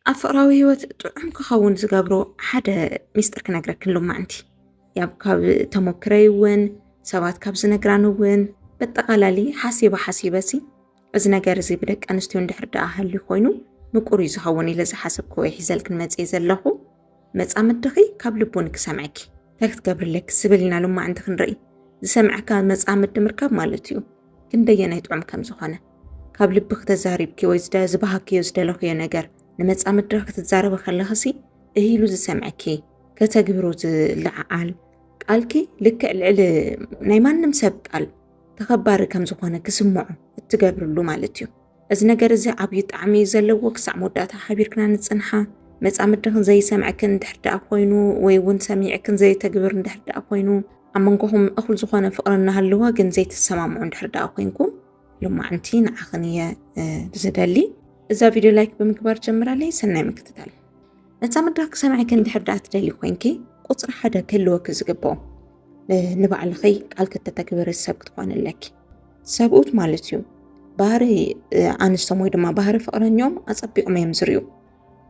ኣብ ፍቅራዊ ህይወት ጥዑም ክኸውን ዝገብሮ ሓደ ሚስጥር ክነግረኪ ሎማዕንቲ ያብ ካብ ተሞክረይ እውን ሰባት ካብ ዝነግራን እውን በጠቓላሊ ሓሲበ ሓሲበ ሲ እዚ ነገር እዚ ብደቂ ኣንስትዮ እንድሕር ደኣ ሃልዩ ኮይኑ ምቁር እዩ ዝኸውን ኢለ ዝሓሰብክዎ ይሕዘልክን መፅየ ዘለኹ መጻምድኺ ካብ ልቦን ክሰምዕኪ እንታይ ክትገብሪ ኣለኪ ስብል ኢና ሎማዕንቲ ክንርኢ ዝሰምዕካ መጻምዲ ምርካብ ማለት እዩ ክንደየናይ ጥዑም ከም ዝኾነ ካብ ልቢ ክተዛሪብኪ ወይ ዝበሃክዮ ዝደለኽዮ ነገር ንመጻምድኺ ክትዛረበ ከለኽሲ እሂሉ ዝሰምዕኪ ከተግብሮ ዝለዓዓል ቃልኪ ልክዕ ልዕሊ ናይ ማንም ሰብ ቃል ተኸባሪ ከም ዝኾነ ክስምዖ እትገብርሉ ማለት እዩ። እዚ ነገር እዚ ዓብዩ ጣዕሚ እዩ ዘለዎ ክሳዕ መወዳእታ ሓቢርክና ንጽንሓ መጻምድኽን ዘይሰምዕክን እንድሕር ደኣ ኮይኑ ወይ እውን ሰሚዕክን ዘይተግብር እንድሕር ደኣ ኮይኑ ኣብ መንጎኹም እኹል ዝኾነ ፍቕሪ እናሃለወ ግን ዘይትሰማምዑ እንድሕር ደኣ ኮንኩም ልማዕንቲ ንዓኽን እየ ብዝደሊ እዛ ቪድዮ ላይክ ብምግባር ጀምራለይ ሰናይ ምክትታል መጻምዳ ክሰምዕክን እንድሕር ደኣ ትደሊ ኮንኪ ቁፅሪ ሓደ ክህልወኪ ዝግብኦ ንባዕልኺ ቃል ክተተግብሪ ሰብ ክትኾኒ ኣለኪ ሰብኡት ማለት እዩ ባህሪ ኣንስቶም ወይ ድማ ባህሪ ፍቕረኛኦም ኣጸቢቖም እዮም ዝርዩ።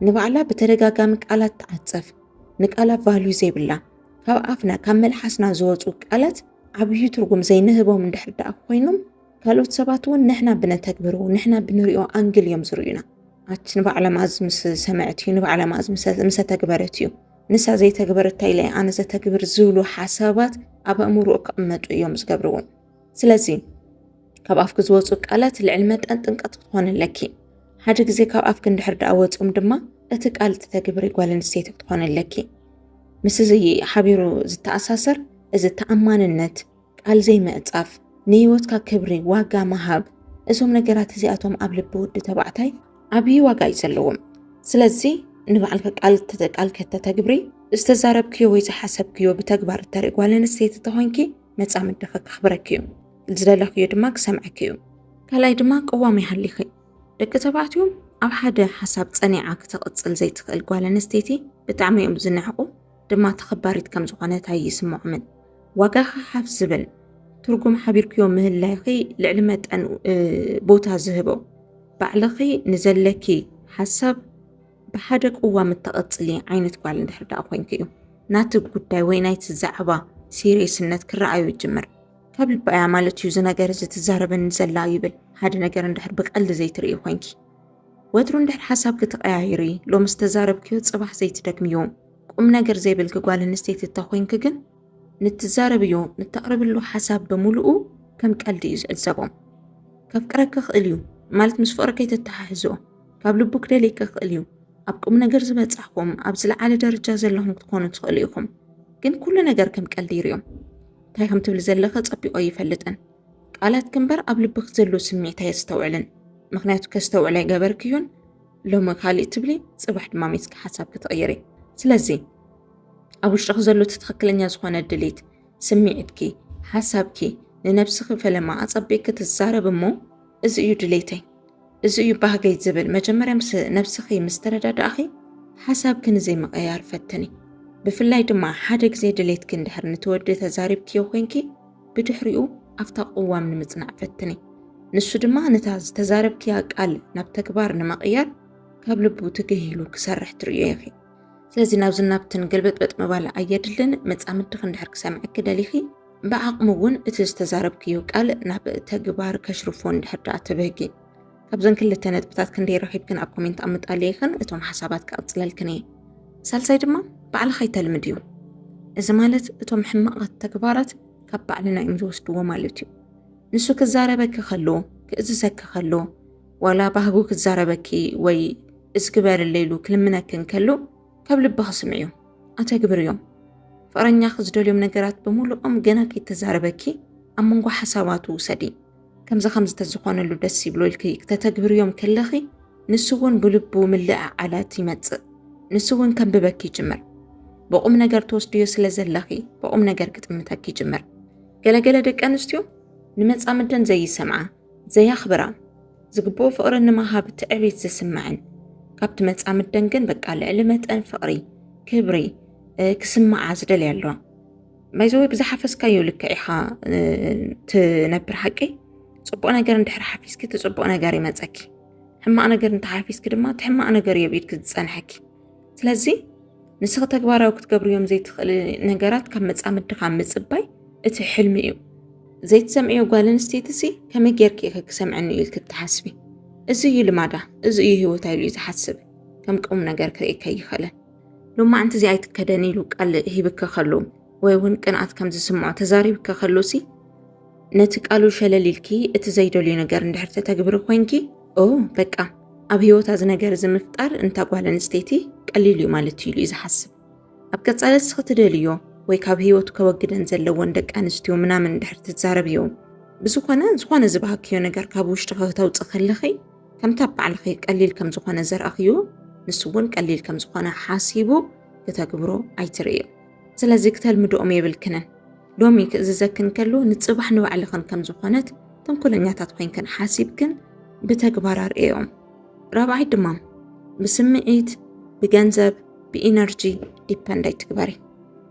ንባዕላ ብተደጋጋሚ ቃላት ትዓጸፍ፣ ንቃላት ቫልዩ ዘይብላ፣ ካብ ኣፍና ካብ መልሓስና ዝወፁ ቃላት ዓብዪ ትርጉም ዘይንህቦም እንድሕር ደኣ ኮይኖም ካልኦት ሰባት እውን ንሕና ብነተግብሮ ንሕና ብንሪኦ ኣንግል እዮም ዝርዩና። ኣቲ ንባዕላ ማዝ ምስ ሰምዐት እዩ ንባዕላ ማዝ ምስ ተግበረት እዩ ንሳ ዘይተግበረታ ኢለ ኣነ ዘተግብር ዝብሉ ሓሳባት ኣብ ኣእምሮኡ ክቕመጡ እዮም ዝገብርዎም። ስለዚ ካብ ኣፍኪ ዝወፁ ቃላት ልዕሊ መጠን ጥንቀት ክትኾን ኣለኪ ሓደ ግዜ ካብ ኣፍኪ እንድሕር ደኣ ወፅኦም ድማ እቲ ቃል እትተግብሪ ጓል ኣንስተይቲ ክትኾን ኣለኪ ምስ እዚ ሓቢሩ ዝተኣሳሰር እዚ ተኣማንነት ቃል ዘይምዕፃፍ ንህይወትካ ክብሪ ዋጋ ምሃብ እዞም ነገራት እዚኣቶም ኣብ ልቢ ወዲ ተባዕታይ ዓብዪ ዋጋ እዩ ዘለዎም ስለዚ ንባዕልከ ቃል ቃል ከተተግብሪ ዝተዛረብክዮ ወይ ዝሓሰብክዮ ብተግባር እተርኢ ጓል ኣንስተይቲ ተኾይንኪ መጻምድኺ ከኽብረኪ እዩ፣ ዝደለኽዮ ድማ ክሰምዐኪ እዩ። ካልኣይ ድማ ቅዋም ይሃሊኺ። ደቂ ተባዕትዮ ኣብ ሓደ ሓሳብ ጸኒዓ ክትቕጽል ዘይትኽእል ጓል ኣንስተይቲ ብጣዕሚ እዮም ዝንዕቑ፣ ድማ ተኸባሪት ከም ዝኾነት ኣይስምዖምን። ዋጋኺ ሓፍ ዝብል ትርጉም ሓቢርክዮ ምህላይኺ ልዕሊ መጠን ቦታ ዝህቦ ባዕልኺ ንዘለኪ ሓሳብ ብሓደ ቅዋም እተቐጽሊ ዓይነት ጓል እንድሕር ደኣ ኮይንኪ እዩ ናቲ ጉዳይ ወይ ናይቲ ዛዕባ ሲሪየስነት ክረኣዩ ይጅምር። ካብ ልባ እያ ማለት እዩ እዚ ነገር እዚ ትዛረበኒ ዘላ ይብል። ሓደ ነገር እንድሕር ብቀልዲ ዘይትርእዪ ኮይንኪ ወትሩ እንድሕር ሓሳብኪ ትቐያይሪ ሎሚ ዝተዛረብክዮ ጽባሕ ዘይትደግምዮ። ቁም ነገር ዘይብልኪ ጓል ኣንስተይቲ እተ ኮይንኪ ግን ንትዛረብዮ ንተቕርብሉ ሓሳብ ብምሉኡ ከም ቀልዲ እዩ ዝዕዘቦ። ከፍቅረኪ ይኽእል እዩ ማለት ምስ ፍቕሪ ከይተተሓሕዝኦ። ካብ ልቡ ክደልይኪ ይኽእል እዩ። ኣብ ቁም ነገር ዝበጻሕኩም ኣብ ዝለዓለ ደረጃ ዘለኹም ክትኮኑ ትኽእሉ ኢኹም። ግን ኩሉ ነገር ከም ቀልዲ ይሪኦ። እንታይ ከም ትብሊ ዘለኺ ጸቢቆ ኣይፈልጥን። ቃላትኪ እምበር ኣብ ልብኺ ዘሎ ስምዒት ኣየስተውዕልን። ምክንያቱ ከስተውዕል ኣይገበርክዮን። ሎሚ ካልእ ትብሊ፣ ጽባሕ ድማ ሜስኪ ሓሳብኪ ትቕይሪ። ስለዚ ኣብ ውሽጥኺ ዘሎ እቲ ትኽክለኛ ዝኾነ ድሌት፣ ስምዒትኪ፣ ሓሳብኪ ንነብስኺ ፈለማ ኣጸቢቅኪ ትዛረብ እሞ እዚ እዩ ድሌተይ፣ እዚ እዩ ባህገይ ዝብል መጀመርያ ምስ ነብስኺ ምስ ተረዳዳእኺ ሓሳብኪ ንዘይምቕያር ፈትኒ። ብፍላይ ድማ ሓደ ግዜ ድሌትኪ እንድሕር ንቲ ወዲ ተዛሪብክዮ ኮይንኪ ብድሕሪኡ ኣብታ ቅዋም ንምጽናዕ ፈትኒ። ንሱ ድማ ነታ ዝተዛረብክያ ቃል ናብ ተግባር ንምቕያር ካብ ልቡ ትግሂሉ ክሰርሕ ትርእዮ ኢኺ። ስለዚ ናብዚ ናብትን ግልብጥበጥ ምባል ኣየድልን። መጻምድኺ እንድሕር ክሰምዕኪ ደሊኺ ብዓቕሚ እውን እቲ ዝተዛረብክዮ ቃል ናብ ተግባር ከሽርፎ እንድሕር ደኣ ትብህጊ ካብዘን ክልተ ነጥብታት ክንደይ ረኺብክን ኣብ ኮሜንት ኣምጣልየኽን እቶም ሓሳባት ክቕጽለልክን እየ። ሳልሳይ ድማ ባዕልኻ ይተልምድ እዩ። እዚ ማለት እቶም ሕማቓት ተግባራት ካብ ባዕልና እዮም ዝወስድዎ ማለት እዩ። ንሱ ክዛረበኪ ከሎ ክእዝዘኪ ከሎ ዋላ ባህጉ ክዛረበኪ ወይ እዚ ግበርለይ ኢሉ ክልምነክን ከሎ ካብ ልብኺ ስምዕዮም ኣተግብርዮም። ፍቕረኛኺ ዝደልዮም ነገራት ብምሉኦም ገና ከይተዛረበኪ ኣብ መንጎ ሓሳባቱ ውሰዲ። ከምዚ ከምዚ ተዝኾነሉ ደስ ይብሎ ኢልኪ ክተተግብርዮም ከለኺ ንሱ እውን ብልቡ ምልዕዓላት ይመጽእ። ንሱ እውን ከንብበኪ ይጅምር። ብቑም ነገር ትወስድዮ ስለ ዘለኺ ብቑም ነገር ክጥምተኪ ይጅምር። ገለገለ ደቂ ኣንስትዮ ንመጻምደን ዘይሰምዓ ዘየኽብራ ዝግብኦ ፍቕሪ ንመሃብ ትዕቢት ዝስምዐን ካብቲ መጻምደን ግን በቃ ልዕሊ መጠን ፍቕሪ ክብሪ ክስምዓ ዝደልያ ኣለዋ ማይዘወይ ብዝሓፈስካዮ ልክዕ ኢኻ ትነብር ሓቂ ፅቡቅ ነገር እንድሕር ሓፊዝኪ እቲ ፅቡቅ ነገር ይመፀኪ ሕማቅ ነገር እንተሓፊዝኪ ድማ እቲ ሕማቅ ነገር እዩ ኣብ ኢድኪ ዝፀንሐኪ ስለዚ ንስኺ ተግባራዊ ክትገብርዮም ዘይትኽእሊ ነገራት ካብ መፃምድኻ ምፅባይ እቲ ሕልሚ እዩ ዘይትሰምዕዮ ጓል ኣንስተይቲ ሲ ከመይ ጌርኪ ኢኺ ክሰምዐኒ እዩ ኢልኪ እትሓስቢ እዚ እዩ ልማዳ እዚ እዩ ሂወታ ኢሉ እዩ ዝሓስብ ከም ቁም ነገር ክርእየካ ኣይኽእልን ሎማዕንቲ እዚ ኣይትከደን ኢሉ ቃል ሂብኪ ከሉ ወይ እውን ቅንኣት ከም ዝስምዖ ተዛሪብኪ ከሉ ሲ ነቲ ቃሉ ሸለል ኢልኪ እቲ ዘይደልዮ ነገር እንድሕር ተተግብሪ ኮንኪ ኦ በቃ ኣብ ህይወታ እዚ ነገር እዚ ምፍጣር እንታ ጓል ኣንስተይቲ ቀሊል እዩ ማለት እዩ ኢሉ እዩ ዝሓስብ ኣብ ቀጻሊ እስኺ ትደልዮ ወይ ካብ ህይወቱ ከወግደን ዘለዎን ደቂ ኣንስትዮ ምናምን እንድሕር ትዛረብዮ ብዝኾነ ዝኾነ ዝበሃክዮ ነገር ካብ ውሽጢ ከተውፅእ ከለኺ ከምቲ ኣብ ባዕልኺ ቀሊል ከም ዝኾነ ዘርኣኽዮ ንሱ እውን ቀሊል ከም ዝኾነ ሓሲቡ ክተግብሮ ኣይትርእዮ ስለዚ ክተልምድኦም የብልክንን። ሎሚ ክእዝዘክን ከሎ ንጽባሕ ንባዕልኽን ከም ዝኾነት ተንኮለኛታት ኮይንክን ሓሲብክን ብተግባር ኣርእዮም። ራብዓይ ድማ ብስምዒት፣ ብገንዘብ፣ ብኢነርጂ ዲፐንድ ኣይትግበሪ።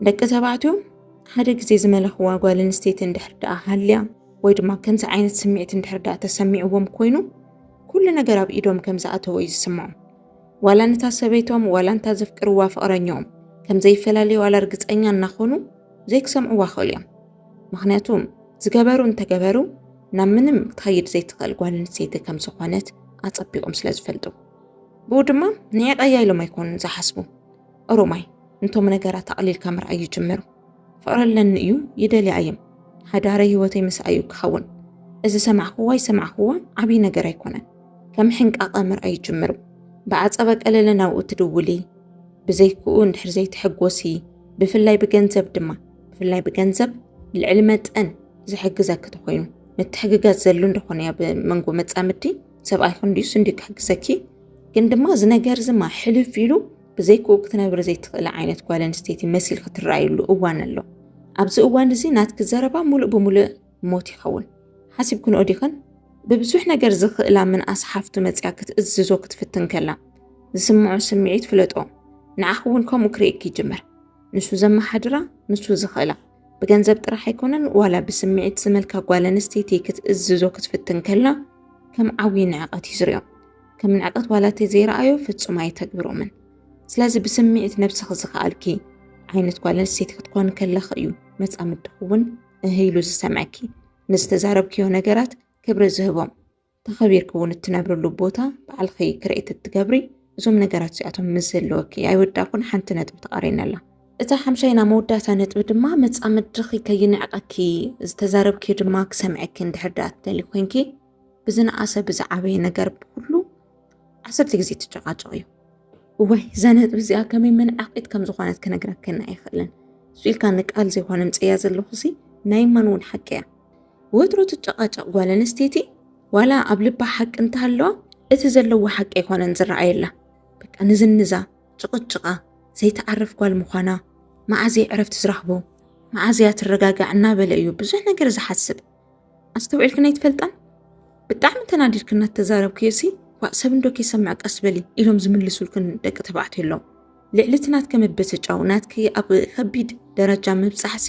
ደቂ ተባዕትዮ ሓደ ግዜ ዝመለኽዋ ጓል ኣንስተይቲ እንድሕር ደኣ ሃልያ ወይ ድማ ከምዚ ዓይነት ስምዒት እንድሕር ደኣ ተሰሚዕዎም ኮይኑ ኩሉ ነገር ኣብ ኢዶም ከም ዝኣተወ እዩ ዝስምዖም። ዋላ ነታ ሰበይቶም ዋላ እንታ ዘፍቅርዋ ፍቕረኝኦም ከም ዘይፈላለዩ ዋላ ርግጸኛ እናኾኑ ዘይክሰምዕዋ ክኽእሉ እዮም። ምኽንያቱ ዝገበሩ እንተገበሩ ናብ ምንም ክትኸይድ ዘይትኽእል ጓል ኣንስተይቲ ከም ዝኾነት ኣጸቢቖም ስለ ዝፈልጡ ብኡ ድማ ንዒቐያ ኢሎም ኣይኮኑን ዝሓስቡ። ኦሮማይ እንቶም ነገራት ኣቕሊልካ ምርኣይ ይጅምሩ። ፈቕረለኒ እዩ ይደልያ እየም ሓዳረይ ህይወተይ ምስኣ እዩ ክኸውን እዚ ሰማዕክዎ ኣይሰማዕክዎ ዓብዪ ነገር ኣይኮነን ከም ሕንቃቐ ምርኣይ ጅምሩ ብዓፀበ ቀለለ ናብኡ ትድውሊ ብዘይክኡ እንድሕር ዘይትሕጎሲ ብፍላይ ብገንዘብ ድማ ብፍላይ ብገንዘብ ልዕሊ መጠን ዝሕግዘኪ ተኮይኑ ምትሕግጋዝ ዘሉ እንደኾነ ኣብ መንጎ መጻምድቲ ሰብኣይኹን ድዩስ እንዲ ክሕግዘኪ ግን ድማ እዚ ነገር ዝማ ሕልፍ ኢሉ ብዘይክኡ ክትነብሪ ዘይትኽእሊ ዓይነት ጓል ኣንስተይቲ መሲል ክትረኣዩሉ እዋን ኣሎ። ኣብዚ እዋን እዚ ናትኪ ዘረባ ሙሉእ ብሙሉእ ሞት ይኸውን። ሓሲብክንኦ ዲኽን? ብብዙሕ ነገር ዝኽእላ ምንኣስ ሓፍቱ መጺኣ ክትእዝዞ ክትፍትን ከላ ዝስምዖ ስምዒት ፍለጦ። ንዓኺ እውን ከምኡ ክርእየኪ ይጅምር። ንሱ ዘመሓድራ፣ ንሱ ዝኽእላ፣ ብገንዘብ ጥራሕ ኣይኮነን ዋላ ብስምዒት ዝመልካ ጓል ኣንስተይቲ ክትእዝዞ ክትፍትን ከላ ከም ዓብዪ ንዕቐት እዩ ዝሪኦ። ከም ንዕቀት ዋላ እቲ ዘይረኣዮ ፍጹም ኣይተግብሮምን። ስለዚ ብስምዒት ነብስኺ ዝኸኣልኪ ዓይነት ጓል ኣንስተይቲ ክትኮኒ ከለኺ እዩ መጻምድኺ እውን እህ ኢሉ ዝሰምዐኪ። ንዝተዛረብክዮ ነገራት ክብሪ ዝህቦም ተኸቢርኪ እውን እትነብርሉ ቦታ ባዕልኺ ክሬኤት እትገብሪ እዞም ነገራት እዚኣቶም ምስ ዘለወኪ ኣይወዳእኩን ሓንቲ ነጥቢ ተቓሪና ኣላ። እታ ሓምሻይና መወዳእታ ነጥቢ ድማ መጻምድኺ ከይንዕቀኪ ዝተዛረብክዮ ድማ ክሰምዐኪ እንድሕር ደኣ ትደልዪ ኮንኪ ብዝነኣሰ ብዝዓበየ ነገር ብኩሉ ዓሰርተ ግዜ ትጨቃጨቕ እዩ እዋይ እዛ ነጥቢ እዚኣ ከመይ መንዓቂት ከም ዝኾነት ክነግረክን ኣይኽእልን እሱ ኢልካ ንቃል ዘይኮነ ምፅያ ዘለኹ ሲ ናይ ማን እውን ሓቂ እያ ወትሮ ትጨቃጨቕ ጓል ኣንስተይቲ ዋላ ኣብ ልባ ሓቂ እንተሃለዋ እቲ ዘለዎ ሓቂ ኣይኮነን ዝረኣየላ በቃ ንዝንዛ ጭቕጭቓ ዘይተዓርፍ ጓል ምዃና መዓዘይ ዕረፍቲ ዝረኽቦ መዓዘያ ትረጋጋዕ እናበለ እዩ ብዙሕ ነገር ዝሓስብ ኣስተውዒልክን ኣይትፈልጣን ብጣዕሚ ተናዲድክን እናተዛረብክዮ ሲ ዋእ ሰብ እንዶ ከይሰምዕ ቀስ በሊ ኢሎም ዝምልሱልክን ደቂ ተባዕትዮ ኣለዉ ልዕሊ እቲ ናትከ ምብስጫው ናትኪ ኣብ ከቢድ ደረጃ ምብፃሕሲ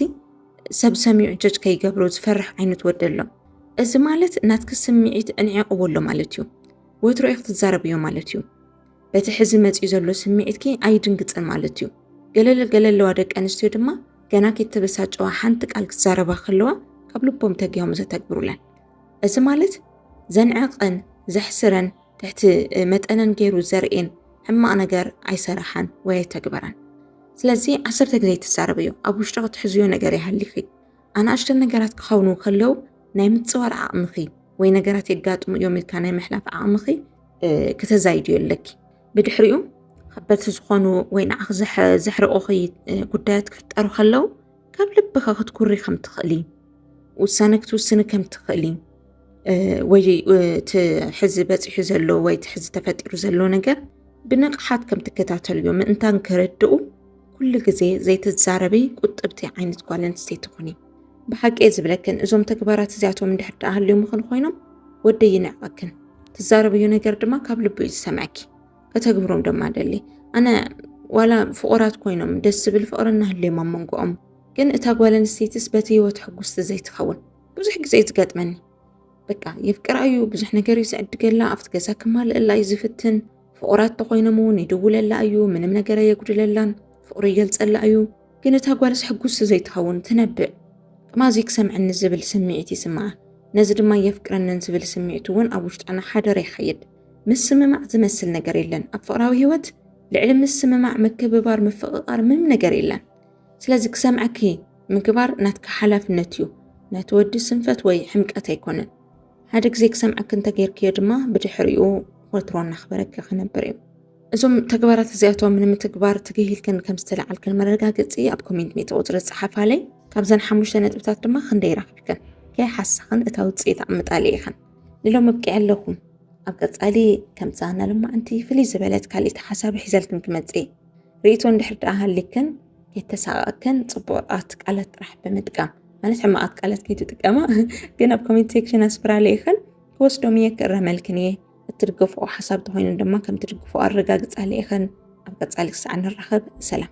ሰብ ሰሚዑ ጀጅ ከይገብሮ ዝፈርሕ ዓይነት ወዲ ኣሎ እዚ ማለት ናትኪ ስምዒት እንዒቕዎ ኣሎ ማለት እዩ ወትሮ ኢኽ ትዛረብዮ ማለት እዩ በቲ ሕዚ መፂኡ ዘሎ ስምዒትኪ ኣይድንግፅን ማለት እዩ። ገለል ገለለዋ ደቂ ኣንስትዮ ድማ ገና ከይተበሳጨዋ ሓንቲ ቃል ክዛረባ ከለዋ ካብ ልቦም ተጊሆም ዘተግብሩለን እዚ ማለት ዘንዕቐን ዘሕስረን ትሕቲ መጠነን ገይሩ ዘርእን ሕማቕ ነገር ኣይሰራሓን ወይ ኣይተግበራን። ስለዚ ዓሰርተ ግዜ ትዛረበዮ ኣብ ውሽጢ ክትሕዝዮ ነገር ይሃሊኺ ኣናእሽተ ነገራት ክኸውኑ ከለው ናይ ምፅዋር ዓቕምኺ ወይ ነገራት የጋጥሙ እዮም ኢልካ ናይ ምሕላፍ ዓቕምኺ ክተዛይድዮ ኣለኪ ብድሕሪኡ ከበድቲ ዝኾኑ ወይ ንዓኽ ዘሕርቑኺ ጉዳያት ክፍጠሩ ከለው ካብ ልብኻ ክትኩሪ ከም ትኽእሊ ውሳነ ክትውስኒ ከም ትኽእሊ ወይ እቲ ሕዚ በፂሑ ዘሎ ወይ እቲ ሕዚ ተፈጢሩ ዘሎ ነገር ብንቕሓት ከም ትከታተልዮ ምእንታን ክርድኡ ኩሉ ግዜ ዘይትዛረበይ ቁጥብቲ ዓይነት ጓል ኣንስተይቲ ኩኒ። ብሓቂ እየ ዝብለክን እዞም ተግባራት እዚኣቶም እንድሕር ደኣ ሃልዮምኽን ኮይኖም ወደይ ይንዕቐክን ትዛረብዮ ነገር ድማ ካብ ልቡ እዩ ዝሰምዐኪ ከተግብሮም ድማ ደሊ ኣነ ዋላ ፍቑራት ኮይኖም ደስ ዝብል ፍቕሪ እናሃልዮም ኣብ መንጎኦም ግን እታ ጓል ኣንስተይትስ በቲ ህይወት ሕጉስቲ ዘይትኸውን ብዙሕ ግዜ እዩ ዝገጥመኒ በቃ የፍቅራ እዩ ብዙሕ ነገር እዩ ዝዕድገላ ኣብቲ ገዛ ክማልእላ እዩ ዝፍትን ፍቑራት ተኮይኖም እውን ይድውለላ እዩ ምንም ነገር ኣየጉድለላን ፍቕሩ ይገልፀላ እዩ ግን እታ ጓልስ ሕጉስቲ ዘይትኸውን ትነብዕ። ጥማዚ ክሰምዕኒ ዝብል ስምዒት ይስምዓ፣ ነዚ ድማ የፍቅረንን ዝብል ስምዒት እውን ኣብ ውሽጣ እናሓደረ ይኸይድ። ምስምማዕ ዝመስል ነገር የለን። ኣብ ፍቕራዊ ህይወት ልዕሊ ምስምማዕ፣ ምክብባር፣ ምፍቕቓር ምንም ነገር የለን። ስለዚ ክሰምዐኪ ምግባር ናትኪ ሓላፍነት እዩ፣ ናይቲ ወዲ ስንፈት ወይ ሕምቀት ኣይኮነን። ሓደ ግዜ ክሰምዐኪ እንተገይርክዮ ድማ ብድሕሪኡ ወትሮ እናኽበረኪ ክነብር እዩ። እዞም ተግባራት እዚኣቶም ንምትግባር ትግሂልክን ከም ዝተለዓልክን መረጋገፂ ኣብ ኮሜንት ሜተ ቁፅሪ ፀሓፋለይ ካብዘን ሓሙሽተ ነጥብታት ድማ ክንደይ ረኺብክን ከይሓሳኽን እታ ውፅኢት ኣምጣሊ ኢኽን ንሎም ኣብቂዐ ኣለኹም ኣብ ቀፃሊ ከምፃ እናልማዕንቲ ፍልይ ዝበለት ካልኢቲ ሓሳብ ሒዘልክን ክመፅእ ርእቶ እንድሕር ደኣ ሃሊክን ከይተሳቐቅክን ፅቡቃት ቃላት ጥራሕ ብምጥቃም ማለት ሕማቓት ቃላት ከይትጥቀማ ግን ኣብ ኮሜንት ሴክሽን ኣስፍራለይ ኢኽን ክወስዶም እየ ክእረመልክን እየ እትድገፍኦ ሓሳብ ተኾይኑ ድማ ከምትድግፍኦ ኣረጋግፃ ልኢኸን ኣብ ቀፃሊ ክሳዕ ንራኸብ ሰላም።